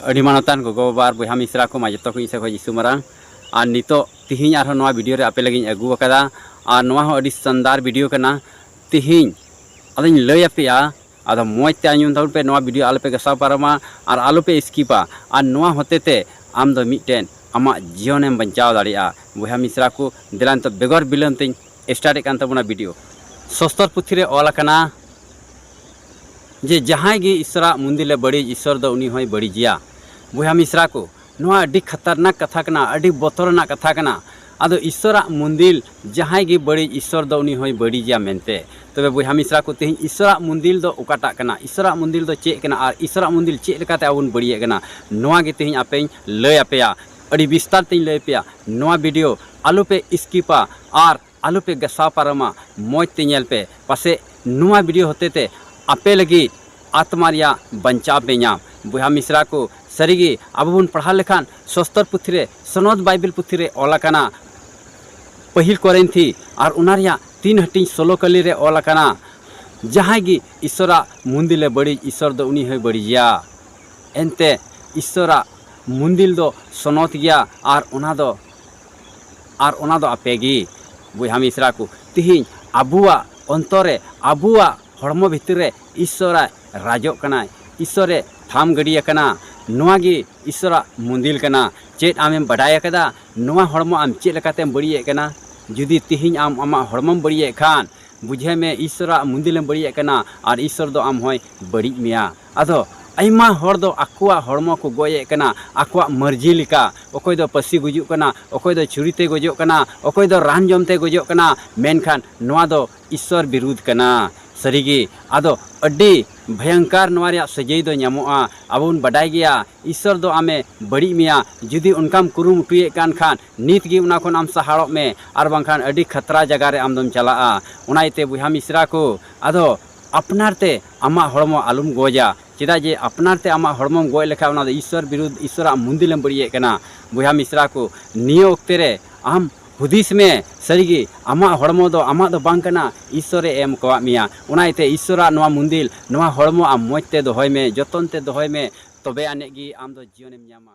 ᱟᱹᱰᱤ ᱢᱟᱱᱚᱛᱟᱱ ᱜᱚᱜᱚ ᱵᱟᱵᱟ ᱟᱨ ᱵᱚᱭᱦᱟ ᱢᱤᱥᱨᱟ ᱠᱚ ᱢᱟ ᱡᱚᱛᱚ ᱠᱚ ᱤᱧ ᱥᱮᱫ ᱠᱷᱚᱱ ᱡᱤᱥᱩ ᱢᱟᱨᱟᱝ ᱟᱨ ᱱᱤᱛᱚᱜ ᱛᱤᱦᱤᱧ ᱟᱨᱦᱚᱸ ᱱᱚᱣᱟ ᱵᱷᱤᱰᱤᱭᱳ ᱨᱮ ᱟᱯᱮ ᱞᱟᱹᱜᱤᱫ ᱤᱧ ᱟᱹᱜᱩ ᱟᱠᱟᱫᱟ ᱟᱨ ᱱᱚᱣᱟ ᱦᱚᱸ ᱟᱹᱰᱤ ᱥᱟᱱᱫᱟᱨ ᱵᱷᱤᱰᱤᱭᱳ ᱠᱟᱱᱟ ᱛᱤᱦᱤᱧ ᱟᱫᱚᱧ ᱞᱟᱹᱭ ᱟᱯᱮᱭᱟ ᱟᱫᱚ ᱢᱚᱡᱽ ᱛᱮ ᱟᱸᱡᱚᱢ ᱛᱟᱵᱚᱱ ᱯᱮ ᱱᱚᱣᱟ ᱵᱷᱤᱰᱤᱭᱳ ᱟᱞᱚᱯᱮ ᱜᱟᱥᱟᱣ ᱯᱟᱨᱚᱢᱟ ᱟᱨ ᱟᱞᱚᱯᱮ ᱥᱠᱤᱯᱟ ᱟᱨ ᱱᱚᱣᱟ ᱦᱚᱛᱮ ᱛᱮ ᱟᱢ ᱫᱚ ᱢᱤᱫᱴᱮᱱ ᱟᱢᱟᱜ ᱡᱤᱭᱚᱱᱮᱢ ᱵᱟᱧᱪᱟᱣ ᱫᱟᱲᱮᱭᱟᱜᱼᱟ ᱵᱚᱭᱦᱟ ᱢᱤᱥᱨᱟ ᱠᱚ ᱫᱮᱞᱟ ᱱᱤᱛᱚᱜ ᱵᱮᱜᱚᱨ ᱵᱤᱞᱚᱢ ᱛᱤᱧ ᱥᱴᱟᱨᱴᱮᱫ ᱠᱟᱱ ᱛᱟᱵᱚᱱᱟ ᱵᱷᱤᱰᱤᱭᱳ ᱥᱚᱥᱛᱚᱨ ᱯᱩᱛᱷᱤ ᱨᱮ ᱚᱞ ᱟᱠᱟᱱᱟ ᱡᱮ ᱡᱟᱦᱟᱸᱭ ᱜᱮ ᱤᱥᱚᱨᱟᱜ ᱢᱩᱱᱫᱤᱞᱮ ᱵᱟᱹᱲᱤᱡ ᱤᱥᱚᱨ ᱫᱚ ᱩᱱᱤ ᱦᱚᱸᱭ ᱵᱟᱹᱲᱤᱡᱮᱭᱟ ᱵᱚᱭᱦᱟ ᱢᱤᱥᱨᱟ ᱠᱚ ᱱᱚᱣᱟ ᱟᱹᱰᱤ ᱠᱷᱟᱛᱟᱨᱱᱟᱠ ᱠᱟᱛᱷᱟ ᱠᱟᱱᱟ ᱟᱹᱰᱤ ᱵᱚᱛᱚᱨ ᱨᱮᱱᱟᱜ ᱠᱟᱛᱷᱟ ᱠᱟᱱᱟ ᱟᱫᱚ ᱤᱥᱚᱨᱟᱜ ᱢᱩᱱᱫᱤᱞ ᱡᱟᱦᱟᱸᱭ ᱜᱮ ᱵᱟᱹᱲᱤᱡ ᱤᱥᱚᱨ ᱫᱚ ᱩᱱᱤ ᱦᱚᱸᱭ ᱵᱟᱹᱲᱤᱡᱮᱭᱟ ᱢᱮᱱᱛᱮ ᱛᱚᱵᱮ ᱵᱚᱭᱦᱟ ᱢᱤᱥᱨᱟ ᱠᱚ ᱛᱮᱦᱮᱧ ᱤᱥᱚᱨᱟᱜ ᱢᱩᱱᱫᱤᱞ ᱫᱚ ᱚᱠᱟᱴᱟᱜ ᱠᱟᱱᱟ ᱤᱥᱚᱨᱟᱜ ᱢᱩᱱᱫᱤᱞ ᱫᱚ ᱪᱮᱫ ᱠᱟᱱᱟ ᱟᱨ ᱤᱥᱚᱨᱟᱜ ᱢᱩᱱᱫᱤᱞ ᱪᱮᱫ ᱞᱮᱠᱟᱛᱮ ᱟᱵᱚ ᱵᱚᱱ ᱵᱟᱹᱲᱤᱡᱮᱫ ᱠᱟᱱᱟ ᱱᱚᱣᱟ ᱜᱮ ᱛᱮᱦᱮᱧ ᱟᱯᱮᱧ ᱞᱟᱹᱭ ᱟᱯᱮᱭᱟ ᱟᱹᱰᱤ ᱵᱤᱥᱛᱟᱨ ᱛᱮᱧ ᱞᱟᱹᱭ ᱟᱯᱮᱭᱟ ᱱᱚᱣᱟ ᱵᱷᱤᱰᱤᱭᱳ ᱟᱞᱚᱯᱮ ᱥᱠᱤᱯᱟ ᱟᱨ ᱟᱞᱚ ᱯᱮ ᱜᱟᱥᱟᱣ ᱯᱟᱨᱚᱢᱟ ᱢᱚᱡᱽ ᱛᱮ ᱧᱮᱞ ᱯᱮ ᱯᱟᱥᱮᱡ ᱱᱚᱣᱟ ᱵᱷᱤᱰᱤᱭᱳ ᱦᱚᱛᱮ ᱛᱮ ᱟᱯᱮ ᱞᱟᱹᱜᱤᱫ ᱟᱛᱢᱟ ᱨᱮᱭᱟᱜ ᱵᱟᱧᱪᱟᱣ ᱯᱮ ᱧᱟᱢ ᱵᱚᱭᱦᱟ ᱢᱤᱥᱨᱟ ᱠᱚ ᱥᱟᱹᱨᱤ ᱜᱮ ᱟᱵᱚ ᱵᱚᱱ ᱯᱟᱲᱦᱟᱣ ᱞᱮᱠᱷᱟᱱ ᱥᱚᱥᱛᱚᱨ ᱯᱩᱛᱷᱤ ᱨᱮ ᱥᱚᱱᱚᱫᱽ ᱵᱟᱭᱵᱮᱞ ᱯᱩᱛᱷᱤ ᱨᱮ ᱚᱞ ᱟᱠᱟᱱᱟ ᱯᱟᱹᱦᱤᱞ ᱠᱚᱨᱤᱱᱛᱷᱤ ᱟᱨ ᱚᱱᱟ ᱨᱮᱭᱟᱜ ᱛᱤᱱ ᱦᱟᱹᱴᱤᱧ ᱥᱳᱞᱳ ᱠᱟᱹᱞᱤ ᱨᱮ ᱚᱞ ᱟᱠᱟᱱᱟ ᱡᱟᱦᱟᱸᱭ ᱜᱮ ᱤᱥᱚᱨᱟᱜ ᱢᱩᱱᱫᱤᱞ ᱮ ᱵᱟᱹᱲᱤᱡ ᱤᱥᱚᱨ ᱫᱚ ᱩᱱᱤ ᱦᱚᱸᱭ ᱵᱟᱹᱲᱤᱡᱮᱭᱟ ᱮᱱᱛᱮ ᱤᱥᱚᱨᱟᱜ ᱢᱩᱱᱫᱤᱞ ᱫᱚ ᱥᱚᱱᱚᱛ ᱜᱮᱭᱟ ᱟᱨ ᱚᱱᱟ ᱫᱚ ᱟᱨ ᱚᱱᱟ ᱫᱚ ᱟᱯᱮ ᱜᱮ ᱵᱚᱭᱦᱟ ᱢᱤᱥᱨᱟ ᱠᱚ ᱛᱮᱦᱮᱧ ᱟᱵᱚᱣᱟᱜ ᱚᱱᱛᱚᱨ ᱨᱮ ᱟᱵᱚᱣᱟᱜ ᱦᱚᱲᱢᱚ ᱵᱷᱤᱛᱤᱨ ᱨᱮ ᱤᱥᱥᱚᱨ ᱟᱡ ᱨᱟᱡᱚᱜ ᱠᱟᱱᱟᱭ ᱤᱥᱥᱚᱨ ᱮ ᱛᱷᱟᱢ ᱜᱤᱰᱤ ᱟᱠᱟᱱᱟ ᱱᱚᱣᱟ ᱜᱮ ᱤᱥᱥᱚᱨᱟᱜ ᱢᱩᱸᱫᱤᱞ ᱠᱟᱱᱟ ᱪᱮᱫ ᱟᱢᱮᱢ ᱵᱟᱰᱟᱭ ᱟᱠᱟᱫᱟ ᱱᱚᱣᱟ ᱦᱚᱲᱢᱚ ᱟᱢ ᱪᱮᱫ ᱞᱮᱠᱟᱛᱮᱢ ᱵᱟᱹᱲᱤᱡ ᱮᱫ ᱠᱟᱱᱟ ᱡᱩᱫᱤ ᱛᱮᱦᱮᱧ ᱟᱢ ᱟᱢᱟᱜ ᱦᱚᱲᱢᱚᱢ ᱵᱟᱹᱲᱤᱡ ᱮᱫ ᱠᱷᱟᱱ ᱵᱩᱡᱷᱟᱹᱣ ᱢᱮ ᱤᱥᱥᱚᱨᱟᱜ ᱢᱩᱸᱫᱤᱞ ᱮᱢ ᱵᱟᱹᱲᱤᱡ ᱮᱫ ᱠᱟᱱᱟ ᱟᱨ ᱤᱥᱥᱚᱨ ᱫᱚ ᱟᱢ ᱦᱚᱸᱭ ᱵᱟᱹᱲᱤᱡ ᱢᱮᱭᱟ ᱟᱫᱚ ᱟᱭᱢᱟ ᱦᱚᱲ ᱫᱚ ᱟᱠᱚᱣᱟᱜ ᱦᱚᱲᱢᱚ ᱠᱚ ᱜᱚᱡ ᱮᱫ ᱠᱟᱱᱟ ᱟᱠᱚᱣᱟᱜ ᱢᱟᱹᱨᱡᱤ ᱞᱮᱠᱟ ᱚᱠᱚᱭ ᱫᱚ ᱯᱟᱹᱥᱤ ᱜᱩᱡᱩᱜ ᱠᱟᱱᱟ ᱚᱠᱚᱭ ᱫᱚ ᱪᱷᱩᱨᱤ ᱛᱮ ᱜᱚᱡᱚᱜ ᱠᱟᱱᱟ ᱚᱠᱚᱭ ᱫᱚ ᱨᱟᱱ ᱡᱚᱢ ᱛᱮ ᱜᱚᱡᱚᱜ ᱠᱟᱱᱟ ᱢᱮᱱᱠᱷᱟᱱ ᱱᱚᱣᱟ ᱫᱚ ᱤᱥᱥᱚᱨ ᱵᱤᱨᱩᱫᱷ ᱠᱟᱱᱟ ᱥᱟᱹᱨᱤ ᱜᱮ ᱟᱫᱚ ᱟᱹᱰᱤ ᱵᱷᱚᱭᱚᱝᱠᱟᱨ ᱱᱚᱣᱟ ᱨᱮᱭᱟᱜ ᱥᱟᱹᱡᱟᱹᱭ ᱫᱚ ᱧᱟᱢᱚᱜᱼᱟ ᱟᱵᱚ ᱵᱚᱱ ᱵᱟᱰᱟᱭ ᱜᱮᱭᱟ ᱤᱥᱥᱚᱨ ᱫᱚ ᱟᱢᱮ ᱵᱟᱹᱲᱤᱡ ᱢᱮᱭᱟ ᱡᱩᱫᱤ ᱚᱱᱠᱟᱢ ᱠᱩᱨᱩᱢᱩᱴᱩᱭᱮᱫ ᱠᱟᱱ ᱠᱷᱟᱱ ᱱᱤᱛ ᱜᱮ ᱚᱱᱟ ᱠᱷᱚᱱ ᱟᱢ ᱥᱟᱦᱟᱲᱚᱜ ᱢᱮ ᱟᱨ ᱵᱟᱝᱠᱷᱟᱱ ᱟᱹᱰᱤ ᱠᱷᱟᱛᱨᱟ ᱡᱟᱭᱜᱟ ᱨᱮ ᱟᱢ ᱫᱚᱢ ᱪᱟᱞᱟᱜᱼᱟ ᱚᱱᱟ ᱤᱭᱟᱹᱛᱮ ᱵᱚᱭᱦᱟ ᱢᱤᱥᱨᱟ ᱠᱚ ᱟᱫᱚ ᱟᱯᱱᱟᱨ ᱛᱮ ᱟᱢᱟᱜ ᱦᱚᱲᱢᱚ ᱟᱞᱚᱢ ᱜᱚᱡᱟ ᱪᱮᱫᱟᱜ ᱡᱮ ᱟᱯᱱᱟᱨ ᱛᱮ ᱟᱢᱟᱜ ᱦᱚᱲᱢᱚᱢ ᱜᱚᱡ ᱞᱮᱠᱷᱟᱱ ᱚᱱᱟ ᱫᱚ ᱤᱥᱥᱚᱨ ᱵᱤᱨᱩᱫᱷ ᱤᱥᱥᱚᱨᱟᱜ ᱢᱚᱱᱫᱤᱨ ᱮᱢ ᱵᱟᱹᱲᱤᱡ ᱮᱫ ᱠᱟᱱᱟ ᱵᱚᱭᱦᱟ ᱢᱤᱥᱨᱟ ᱠᱚ ᱱᱤᱭᱟᱹ ᱚᱠᱛᱮ ᱨᱮ ᱟᱢ ᱦᱩᱫᱤᱥ ᱢᱮ ᱥᱟᱹᱨᱤ ᱜᱮ ᱟᱢᱟᱜ ᱦᱚᱲᱢᱚ ᱫᱚ ᱟᱢᱟᱜ ᱫᱚ ᱵᱟᱝ ᱠᱟᱱᱟ ᱤᱥᱥᱚᱨᱮ ᱮᱢ ᱟᱠᱟᱫ ᱢᱮᱭᱟ ᱚᱱᱟ ᱤᱭᱟᱹ ᱛᱮ ᱤᱥᱥᱚᱨᱟᱜ ᱱᱚᱣᱟ ᱢᱚᱱᱫᱤᱨ ᱱᱚᱣᱟ ᱦᱚᱲᱢᱚ ᱟᱢ ᱢᱚᱡᱽ ᱛᱮ ᱫᱚᱦᱚᱭ ᱢᱮ ᱡᱚᱛᱚᱱ ᱛᱮ ᱫᱚᱦᱚᱭ ᱢᱮ ᱛᱚᱵᱮ ᱟᱹᱱᱤᱡ ᱜᱮ ᱟᱢ ᱫᱚ ᱡᱤᱭᱚᱱᱮᱢ ᱧᱟᱢᱟ᱾